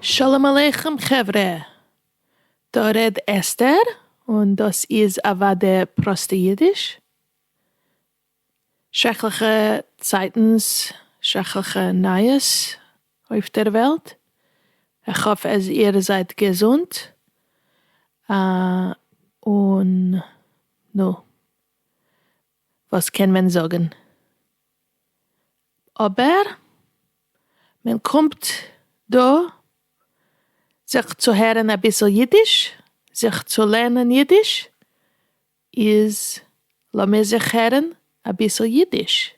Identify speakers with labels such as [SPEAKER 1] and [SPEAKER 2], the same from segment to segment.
[SPEAKER 1] שלום עליכם חברה! דא רעד אסתר, און דאס איז אוואדע פראסטע אידיש. שרעקליכע צייטנס, שרעקליכע נייעס אויף דער וועלט, איך האף אז איר זייט געזונט, און נו, וואס קען מען זאגן, אבער מען קומט דא זיך צו הערן אביסל אידיש, זיך צו לערנען אידיש, איז לאמיר זיך הערן אביסל אידיש.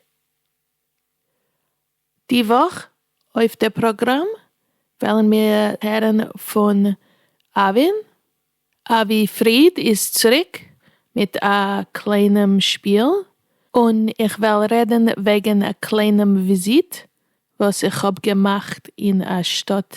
[SPEAKER 1] די וואך אויף די פראגראם וועלן מיר הערן פון אבין, אבי פריד איז צוריק מיט א קליינעם שפיל, און איך וועל רעדן וועגן א קליינעם וויזיט וואס איך האב געמאכט אין א שטאט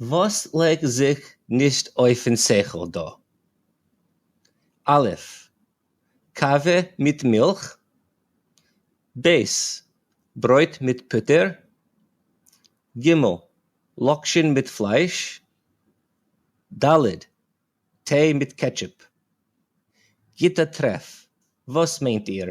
[SPEAKER 2] וואס לייג זיך נישט אויפן שכל דא? א' קאווע מיט מילך, ב' ברויט מיט פוטער, ג' לאקשען מיט פלייש, ד' טיי מיט קעטשופ. גוטע טרעף, וואס מיינט איר?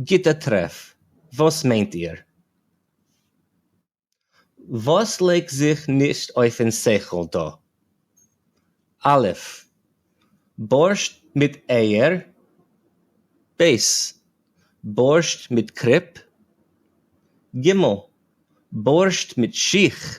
[SPEAKER 2] גוטע טרעף, וואס מיינט איר? וואס לייגט זיך נישט אויפן שכל דא? א' בארשט מיט אייער, ב' בארשט מיט קריפ, ג' בארשט מיט שיך,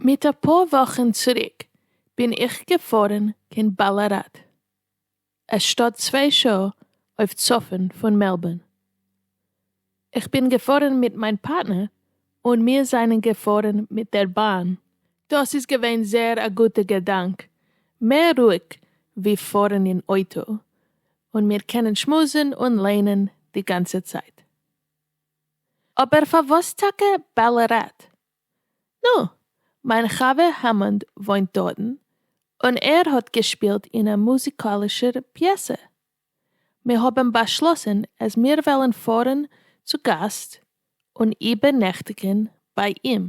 [SPEAKER 1] מיט אפאר וואכן צוריק בין איך געפארן קיין באלעראט, א שטאט צוויי שעה אויף צפון פון מעלבארן. איך בין געפארן מיט מיין פארטנער און מיר זענען געפארן מיט דער באן. דאס איז געווען זייער א גוטע געדאנק, מער רואיג ווי פארן אין אויטא, און מיר קענען שמועסן און לערנען די גאנצע צייט. אבער פארוואס טאקע באלעראט? נו, מיין חבר העמאנד וואוינט דארטן, און ער האט געשפילט אין א מוזיקאלישער פיעסע. מיר האבן באשלאסן אז מיר וועלן פארן צו גאסט און איבערנעכטיגן ביי אים.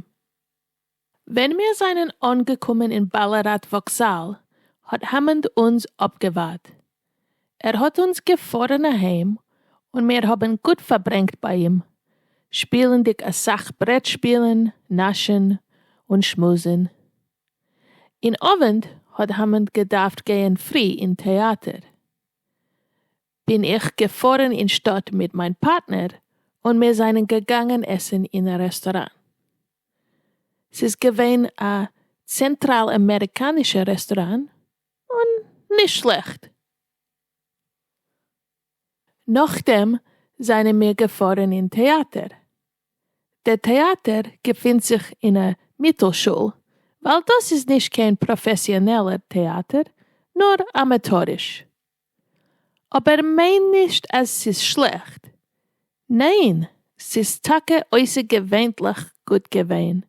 [SPEAKER 1] ווען מיר זענען אנגעקומען אין באלעראט וואקזאל, האט העמאנד אונז אפגעווארט. ער האט אונז געפארן אהיים און מיר האבן גוט פארברענגט ביי אים, שפילנדיג אסאך ברעט שפילן, נאשן און שמועסן. אין אווענט האט האמען געדארפט גייען פרי אין טעאטער, בין איך געפארן אין שטאט מיט מיין פארטנער און מיר זענען געגאנגען עסן אין א רעסטוראן. ס'איז געווען א צענטראל אמעריקאנישע רעסטוראן. און נישט שלעכט. נאכדעם זענען מיר געפארן אין טעאטער. דער טעאטער געפינט זיך אין א מיטלשול, ווייל דאס איז נישט קיין פראפעסיאנעלער טעאטער, נאר אמעטאריש. אבער מיין נישט אז ס'איז שלעכט, ניין ס'איז טאקע אויסערגעווענליך גוט געווען,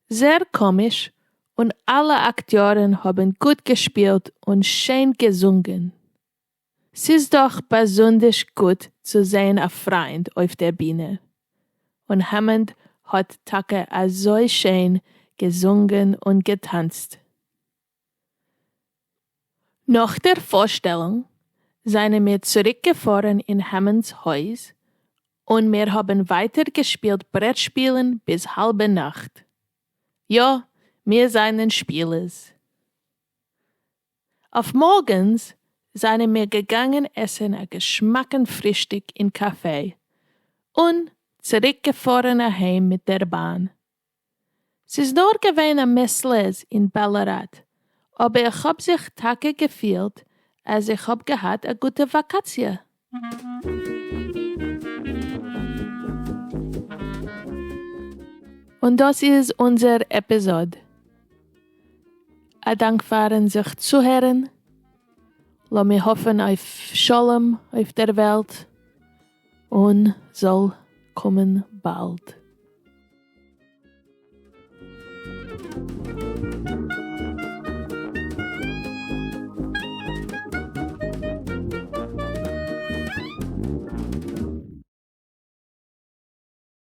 [SPEAKER 1] זער קאמיש און אלע אקטיארן האבן גוט געשפילט און שיין געזונגען, ס'איז דאך באזונדערש גוט צו זען א פריינד אויף דער בינע, און העמאנד האט טאקע אזוי שיין געזונגען און געטאנצט, נאך דער פארשטעלונג זענען מיר צוריק געפארן אין העמאנד'ס הויז, און מיר האבן ווייטער געשפילט ברעטשפילן ביז האלבע נאכט. יא, מיר זענען שפילערס. אויף מארגנס זענען מיר געגאנגען עסן א געשמאקן פרישטאג אין קאפעי, און צוריק געפארן אהיים מיט דער באן. ס'איז נאר געווען א מעסלעז אין בעלעראט, אבער איך האב זיך טאקע געפילט אז איך האב געהאט א גוטע וואקאציע. און דאס איז אונזער עפיזאד. א דאנק פארן זיך צוהערן. לאמיר האפן אויף שלום אויף דער וועלט, און זאל קומען באלד.